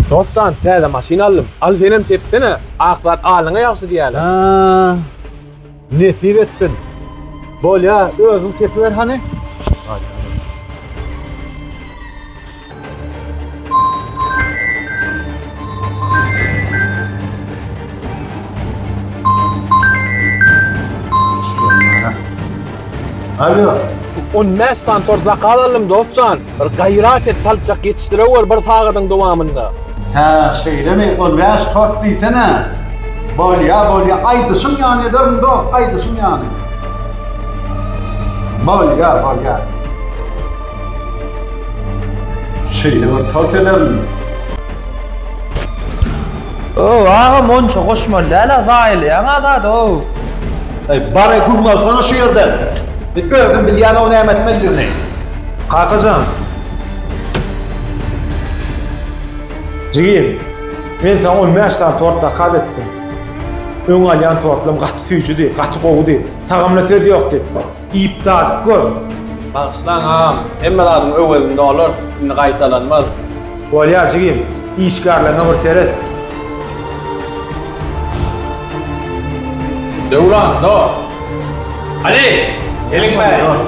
Dostjan täze maşyn aldym. Al senem sepsene. Ak zat alyňa ýagşy diýýäler. Haa. Nesip etsin. Bolýa, özüň sepiber hany. Alo. 15 sany tort zakaz aldym dostjan. Bir gaýrat et çalçak ýetişdirewer bir sagadyň dowamynda. Hä şeýlemi on bäş tort diýsene. Bolýa bolýa aýdyşyň ýaly ederin dos aýdyşyň ýaly. Bolýa bolýa. Şeýle bir tort ederin. Ow agam onça goşmaly däl a zaýalaýaň a zady ow. Eý bare güm alsana şu ýerden. Özüm bilýän ow näme etmelidigini. Kakajan! Jigim, men saňa on bäş sany tort zakaz etdim. Öň alýan tortlam gaty süýjüdi, gaty gowudy. Tagamyna söz ýokdy. Iýip dadyp gör! Bagyşlaň, agam. Hemme zadyň öwezini olarys. Indi gaýtalanmaz. Bolýar, jigim. Işgärleriňe bir seret. Döwran, dos! Ali, geliň bäri! Dos!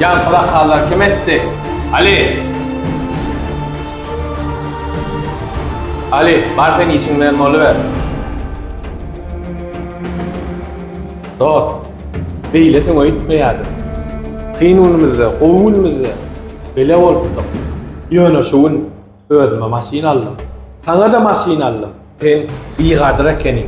Ýan pyrakallar kim etdi? Ali! Ali, bar sen işiň bilen boluber. Dos, beýle söň öýtmeýärdim. Kyn günümizde, gowy günümizde bile bolupdyk. Ýöne şu gün Özüme maşyn aldym. Saňa-da maşyn aldym. Sen bigadyr ekeniň.